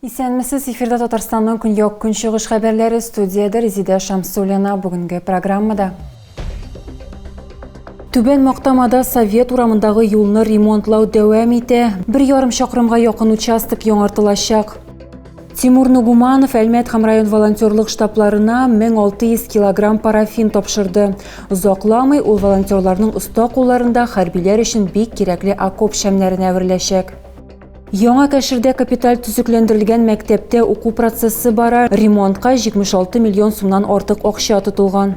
Исәнмесез, эфирда Татарстанның көньяк-көнчыгыш хәбәрләре студияда Резидә Шамсуллина бүгенге программада. Түбән Мактамада Совет урамындагы юлны ремонтлау дәвам итә. Бер ярым чакрымга якын участок яңартылачак. Тимур Нугуманов Әлмәт һәм район волонтерлык штабларына 1600 килограмм парафин тапшырды. Озакламый ул волонтерларның оста кулларында хәрбиләр өчен бик кирәкле окоп шәмнәренә әвереләчәк. Яңа Кәшердә капиталь төзекләндерелгән мәктәптә уку процессы бара, ремонтка 76 миллион сумнан артык акча тотылган.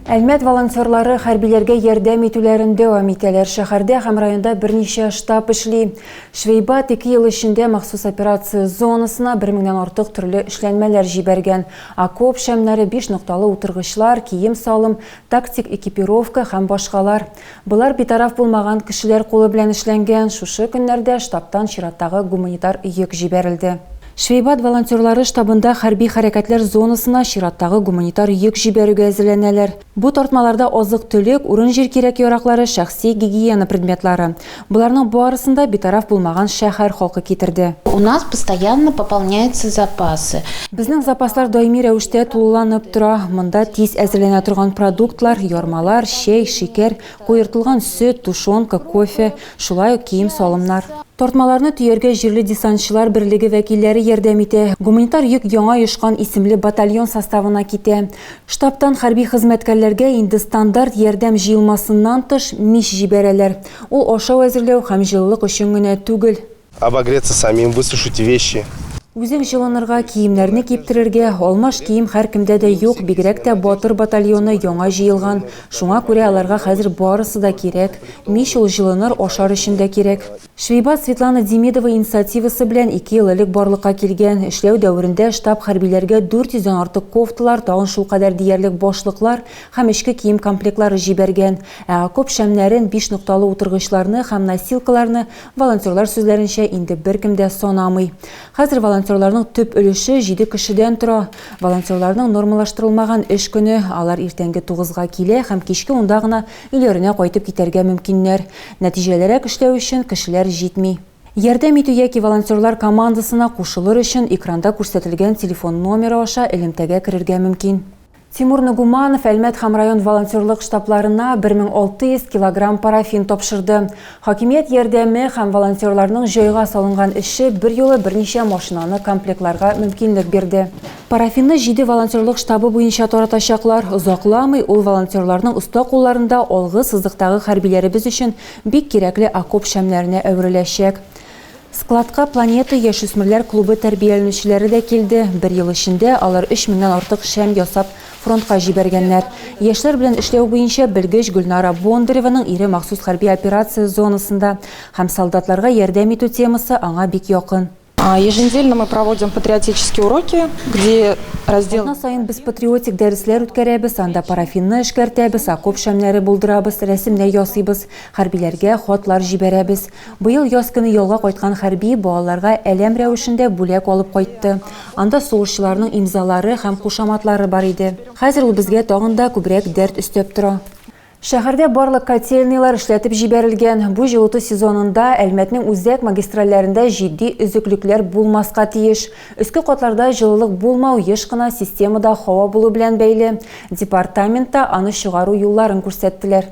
Әлмәт волонтерлары хәрбиләргә ярдәм итүләрен дәвам итәләр. Шәһәрдә һәм районда берничә штаб эшли. Швейбат ике ел эчендә махсус операция зонасына бер меңнән артык төрле эшләнмәләр җибәргән. Окоп шәмнәре, биш нокталы утыргычлар, кием-салым, тактик экипировка һәм башкалар. Болар битараф булмаган кешеләр кулы белән эшләнгән, шушы көннәрдә штабтан чираттагы гуманитар йөк җибәрелде. Швейбат волонтерлары штабында хәрби хәрәкәтләр зонасына чираттагы гуманитар йөк җибәрүгә әзерләнәләр. Бу тартмаларда азык-төлек, урын-җир кирәк-яраклары, шәхси гигиена предметлары. Боларның барысын да битараф булмаган шәһәр халкы китерде. У нас постоянно пополняются запасы. Безнең запаслар даими рәвештә тулыланып тора. Монда тиз әзерләнә торган продуктлар, ярмалар, чәй, шикәр, куертылган сөт, тушенка, кофе, шулай ук кием-салымнар. Тартмаларны төяргә җирле десантчылар берлеге вәкилләре ярдәм итә. Гуманитар йөк Яңа Йошкан исемле батальон составына китә. Штабтан хәрби хезмәткәрләргә инде стандарт ярдәм җыелмасыннан тыш мич җибәрәләр. Ул ашау әзерләү һәм җылылык өчен генә түгел. Обогреться самим, высушите вещи. Үзең җылынырга, киемнәрне киптерергә, алмаш кием һәркемдә дә юк, бигрәк тә батыр батальоны яңа җыелган, шуңа күрә аларга хәзер барысы да кирәк. Мич ул җылыныр, ашар өчен дә кирәк. Швейбат Светлана Демидова инициативасы белән ике ел элек барлыкка килгән. Эшләү дәверендә штаб хәрбиләргә 400 дән артык кофталар, тагын шулкадәр диярлек башлыклар һәм эчке кием комплектлары җибәргән, ә окоп шәмнәрен, биш нокталы утыргычларны һәм носилкаларны, волонтерлар сүзләренчә, инде беркем дә санамый. Хәзер волонтерларның төп өлеше җиде кешедән тора. Волонтерларның нормалаштырылмаган эш көне, алар иртәнге тугызга килә һәм кичке унда гына өйләренә кайтып китәргә мөмкиннәр. Нәтиҗәлерәк эшләү өчен кешеләр җитми. Ярдәм итү яки волонтерлар командасына кушылыр өчен экранда күрсәтелгән телефон номеры аша элемтәгә керергә мөмкин. Тимур Ногуманов Әлмәт һәм район волонтерлык штабларына 1600 килограмм парафин тапшырды. Хакимият ярдәме һәм волонтерларның җайга салынган эше берьюлы берничә машинаны комплектларга мөмкинлек бирде. Парафинны җиде волонтерлык штабы буенча таратачаклар. Озакламый ул волонтерларның оста кулларында алгы сызыктагы хәрбиләребез өчен бик кирәкле окоп шәмнәренә әвереләчәк. Складка Планета яшүсмерләр клубы тәрбияләнүчеләре дә килде. Бер ел эчендә алар өч меңнән артык шәм ясап, фронтка җибәргәннәр. Яшьләр белән эшләү буенча белгеч Гөлнара Бондареваның ире махсус хәрби операция зонасында һәм солдатларга ярдәм итү темасы аңа бик якын. Еженедельно мы проводим патриотические уроки, где раздел. Атна саен без патриотик дәресләр үткәрәбез, анда парафинны эшкәртәбез, окоп шәмнәре булдырабыз, рәсемнәр ясыйбыз, хәрбиләргә хатлар җибәрәбез. Быел яз көне ялга кайткан хәрби балаларга әләм рәвешендә бүләк алып кайтты. Анда сугышчыларның имзалары һәм кушаматлары бар иде. Хәзер ул безгә тагын да күбрәк дәрт өстәп тора. Шәһәрдә барлык котельныйлар эшләтеп җибәрелгән. Бу җылыту сезонында Әлмәтнең үзәк магистральләрендә җитди өзеклекләр булмаска тиеш. Өске катларда җылылык булмау еш кына системада һава булу белән бәйле. Департаментта аны чыгару юлларын күрсәттеләр.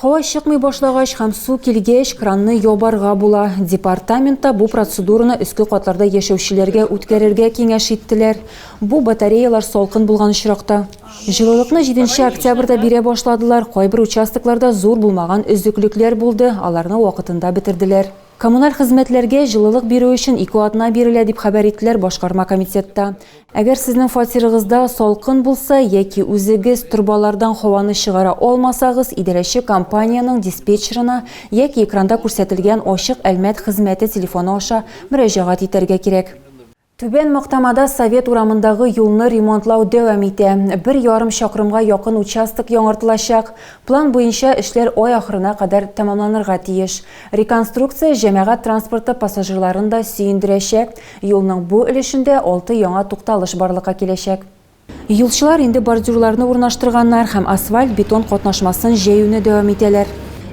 Һава чыкмый башлагач һәм су килгәч, кранны ябарга була. Департаментта бу процедураны өске катларда яшәүчеләргә үткәрергә киңәш иттеләр. Бу батареялар салкын булган очракта. Җылылыкны җиденче октябрьдә бирә башладылар. Кайбер участокларда зур булмаган өзеклекләр булды, аларны вакытында бетерделәр. Коммуналь хезмәтләргә җылылык бирү өчен ике атна бирелә, дип хәбәр иттеләр Башкарма комитетта. Әгәр сезнең фатирыгызда салкын булса яки үзегез торбалардан һаваны чыгара алмасагыз, идарәче компаниянең диспетчерына яки экранда күрсәтелгән ачык Әлмәт хезмәте телефоны аша мөрәҗәгать итәргә кирәк. Түбән Мактамада Совет урамындагы юлны ремонтлау дәвам итә. Бер ярым чакрымга якын участок яңартылачак. План буенча эшләр ай ахырына кадәр тәмамланырга тиеш. Реконструкция җәмәгать транспорты пассажирларын да сөендерәчәк. Юлның бу өлешендә алты яңа тукталыш барлыкка киләчәк. Юлчылар инде бордюрларны урнаштырганнар һәм асфальт-бетон катнашмасын җәюне дәвам итәләр.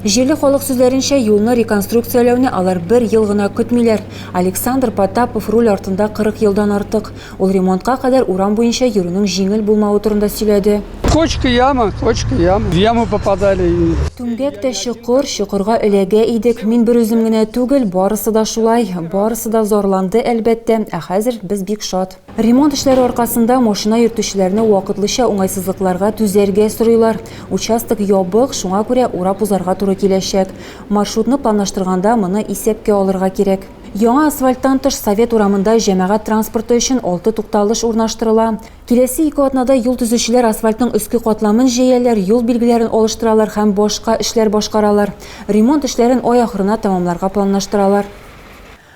Җирле халык сүзләренчә, юлны реконструкцияләүне алар бер ел гына көтмиләр. Александр Потапов руль артында 40 елдан артык. Ул ремонтка кадәр урам буенча йөрүнең җиңел булмавы турында сөйләде. Кочка яма, кочка яма. В яму попадали и. Түмгәк тә чокыр, чокырга эләгә идек. Мин берүзем генә түгел, барысы да шулай. Барысы да зарланды, әлбәттә. Ә хәзер без бик шат. Ремонт эшләре аркасында машина йөртүчеләрне вакытлыча уңайсызлыкларга түзәргә сорыйлар. Участок ябык, шуңа күрә урап узарга туры киләчәк. Маршрутны планлаштырганда моны исәпкә алырга кирәк. Яңа асфальттан тыш Совет урамында җәмәгать транспорты өчен алты тукталыш урнаштырыла. Киләсе ике атнада юл төзүчеләр асфальтның өске катламын җәяләр, юл билгеләрен алыштыралар һәм башка эшләр башкаралар. Ремонт эшләрен ай ахырына тәмамларга планлаштыралар.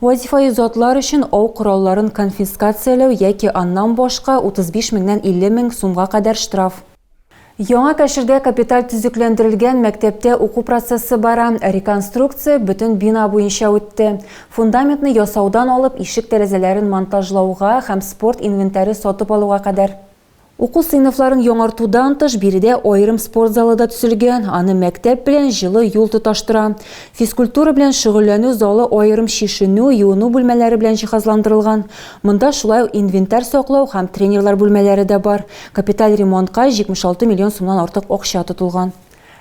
Вазифаи затлар өчен ау коралларын конфискацияләү яки аннан башка 35 меңнән 50 мең сумга кадәр штраф. Яңа Кәшердә капиталь төзекләндерелгән мәктәптә уку процессы бара. Реконструкция бөтен бина буенча үтте. Фундаментны ясаудан алып ишек-тәрәзәләрен монтажлауга һәм спорт инвентаре сатып алуга кадәр. Уку сыйныфларын яңартудан тыш, биредә аерым спорт залы да төзелгән, аны мәктәп белән җылы юл тоташтыра. Физкультура белән шөгыльләнү залы аерым чишенү, юыну бүлмәләре белән җиһазландырылган. Монда шулай ук инвентарь саклау һәм тренерлар бүлмәләре дә бар. Капиталь ремонтка 76 миллион сумнан артык акча тотылган.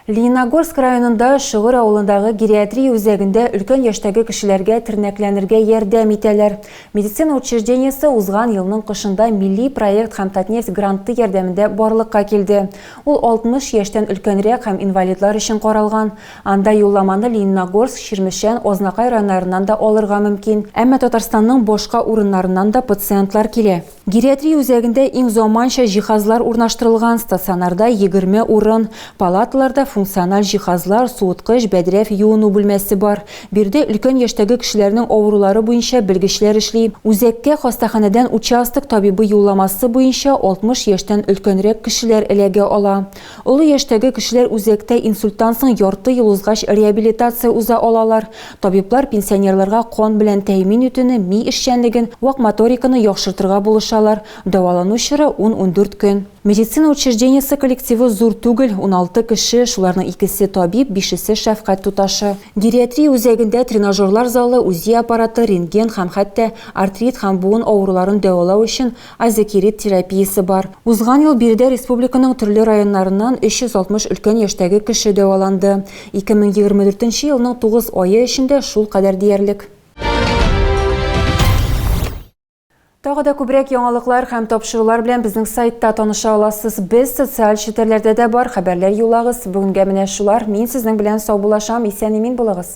Лениногорск районында Шөгер авылындагы гериатрия үзәгендә өлкән яшьтәге кешеләргә тернәкләнергә ярдәм итәләр. Медицина учреждениесе узган елның кышында милли проект һәм Татнефть гранты ярдәмендә барлыкка килде. Ул 60 яшьтән өлкәнрәк һәм инвалидлар өчен каралган. Анда юлламаны Лениногорск, Чирмешән, Азнакай районнарыннан да алырга мөмкин. Әмма Татарстанның башка урыннарыннан да пациентлар килә. Гериатрия үзәгендә иң заманча җиһазлар урнаштырылган стационарда 20 урын, палаталарда функциональ җиһазлар, суыткыч, бәдрәф, юыну бүлмәсе бар. Биредә өлкән яшьтәге кешеләрнең авырулары буенча белгечләр эшли. Үзәккә хастаханәдән участок табибы юлламасы буенча 60 яшьтән өлкәнрәк кешеләр эләгә ала. Олы яшьтәге кешеләр үзәктә инсульттан соң ярты ел узгач реабилитация уза алалар. Табиблар пенсионерларга кан белән тәэмин итүне, ми эшчәнлеген, вак моториканы яхшыртырга булышалар. Дәвалану чоры, ун-ундүрт көн. Медицина учреждениесе коллективы зур түгел, уналты кеше, шуларның икесе, табиб, бишесе, шәфкать туташы. Гериатрия үзәгендә тренажерлар залы, УЗИ аппараты, рентген һәм хәтта артрит һәм буын авыруларын дәвалау өчен Азекирит терапиясе бар. Узган ел биредә республиканың төрле районнарыннан 360 өлкән яшьтәге кеше дәваланды. 2024 нче елның тугыз ае эчендә шул кадәр диярлек. Тагы да күбрәк яңалыклар һәм тапшырулар белән безнең сайтта таныша аласыз. Без социаль челтәрләрдә дә бар, хәбәрләр юллагыз. Бүгенгә менә шулар. Мин сезнең белән саубуллашам. Исән-имин булыгыз!